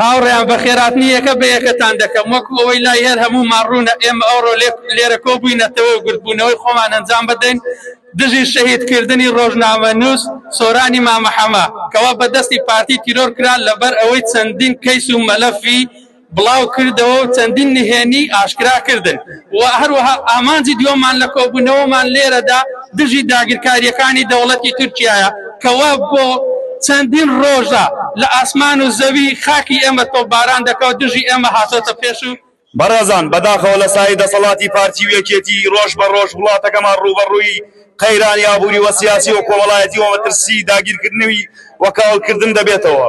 هاوڕێیان بە خێراتنی یەکە بە یەکەتان دەکەم وەکو ئەوەی لای هەر هەموومان ڕوونە ئێمە ئەوڕۆ لێرە کۆبووینەتەوە و گردبوونەوەی خۆمان ئەنجام بدەین دژی شەهید کردنی ڕۆژنامەنووس سۆرانی مامە حەمە کەوا بە دەستی پارتی تیرۆر کرا لەبەر ئەوەی چەندین کەیس و مەلەفی بڵاوکردەوەو چەندین نهێنیی ئاشکراکردن و هەروەها ئامانجی دووەممان لە کۆبوونەوەمان لێرەدا دژی داگیرکارییەکانی دەوڵەتی تورکیایە کە وا بۆ چەندین ڕۆژە لە ئاسمان و زەوی خاکی ئێمە تۆپباران دەکاو دژی ئێمە هاتۆتە پێش و بەڕێزان، بەداخەوە لە سایەی دەسەڵاتی پارتی و یەکێتی، ڕۆژ بە ڕۆژ وڵاتەکەمان ڕووبەڕووی قەیرانی ئابووری وکسیاسی وکۆمەڵایەتی ومەترسیی داگیرکردنوی وکاولکردن دەبێتەوە.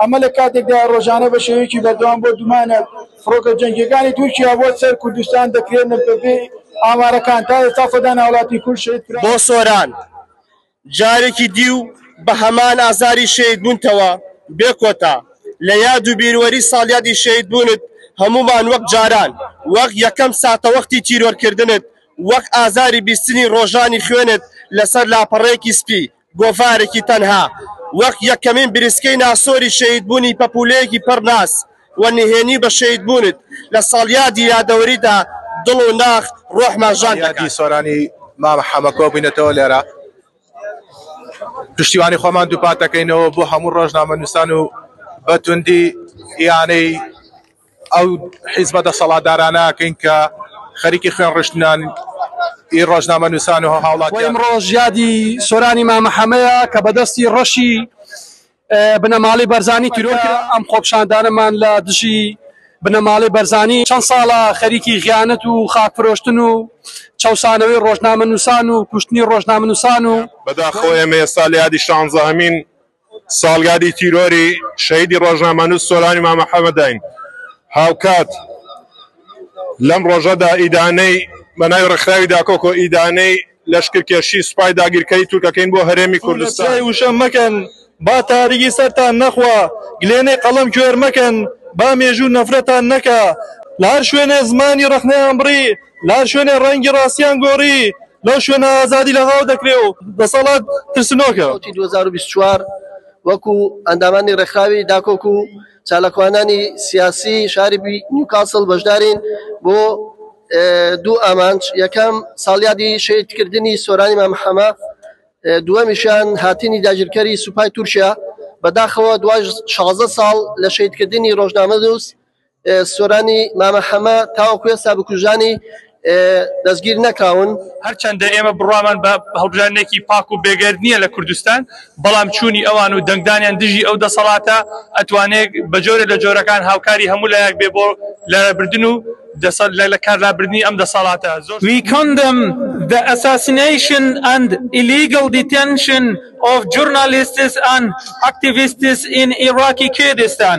ئەمە لە کاتێکدایە ڕۆژانە بە شێوەیەکی بەردەوام بۆ دومانە فڕۆکە جەنگیەکانی تورکیا بۆ سەر کوردستان دەکرێنە بەپێی ئامارەکان تا ئێستا سەدان هاوڵاتی کورد شەهید کران. بۆ سۆران جارێکی دیو بە هەمان ئازاری شەهید بونتەوە بێ کۆتا. لە یاد و بیروەری ساڵیادی شەهید بونت هەمومان وەک جاران وەک یەکەم ساتەوەختی تیرۆر کردنت وەک ئازاری بیستنی ڕۆژانی خوێنت لەسەر لاپەڕەیەکی سپی گۆڤارێکی تەنها وەک یەکەمین بریسکەی ناسۆری شەهیدبوونی پەپوولەیەکی پڕ ناز و نهێنی بە شەهیدبوونت لە ساڵیادی یادەوەریدا دڵ و ناخ ڕۆحمان ژان دەکات. یادی سۆرانی مام حەمە کۆبووینەتەوە لێرە پشتیوانی خۆمان دووپات دەکەینەوە بۆ هەموو ڕۆژنامەنووسان و بە توندی ئیانەی ئەو حیزبە دەسەڵاتدارانە ئەکەین کە خەریکی خوێن ڕشتنن ئی ڕۆژنامە نووسان و هاوڵاتیان. وە ئمڕۆش یادی سۆرانی مامە حەمەیە کە بە دەستی ڕەشی بنەماڵەی بەرزانی تیرۆر کرا. ئەم خۆپشاندانەمان لە دژی بنەماڵەی بەرزانی چەند ساڵە خەریکی غیانەت و خاک فرۆشتن و چەوسانەوەی ڕۆژنامە نووسان و کوشتنی ڕۆژنامە نووسان و بەداخەوە ئێمە ئێستا لە یادی شانزەهەمین ساڵیادی تیرۆری شەهیدی ڕۆژنامەنووس سۆرانی مامە حەمەداین، هاوکات لەم ڕۆژەدا ئیدانەی بەناوی ڕێکخراوی داکۆکۆ ئیدانەی لەشکرکێشی سوپای داگیرکەری تورکەکەین بۆ هەرێمی کوردستان. توو لە چیای وشە مەکەن با تاریکی سەرتان نەخوا گلێنەی قەڵەم کوێر مەکەن با مێژوو نەفرەتان نەکا لە هەر شوێنێ زمانی ڕەخنەیان بڕی لە هەر شوێنێ ڕەنگی ڕاستیان گۆڕی لەو شوێنە ئازادی لە هاو دەکرێ و دەسەڵات ترسنۆکە. وتی 2024 وەکو ئەندامانی ڕێکخراوی داکۆک و چالاکوانانی سیاسی شاری بی- نیوکاسڵ بەشدارین بۆ اه، دوو ئامانج یەکەم ساڵیادی شەهیدکردنی سۆرانی مام حەمە اه، دووەمیشیان هاتنی داگیرکەری سوپای تورکیا بەداخەوە دوای 16 ساڵ لە شەهیدکردنی ڕۆژنامەنووس سۆرانی مامە حەمە تاوەکو ئێستا بکوژانی دەستگیر نەکراون هەرچەندە ئێمە بڕوامان بە هەڵبژاردنێکی پاک و بێگەرد نییە لە کوردستان بەڵام چوونی ئەوان و دەنگدانیان دژی ئەو دەسەڵاتە ئەتوانێت بە جۆرە لە جۆرەکان هاوکاری هەموو لایەک بێ بۆ لەبردن و دەسەر لە کارلابردنی ئەم دەسەڵاتە زۆر We condemn the assassination and illegal detention of journalists and activists in Iraqi Kurdistan.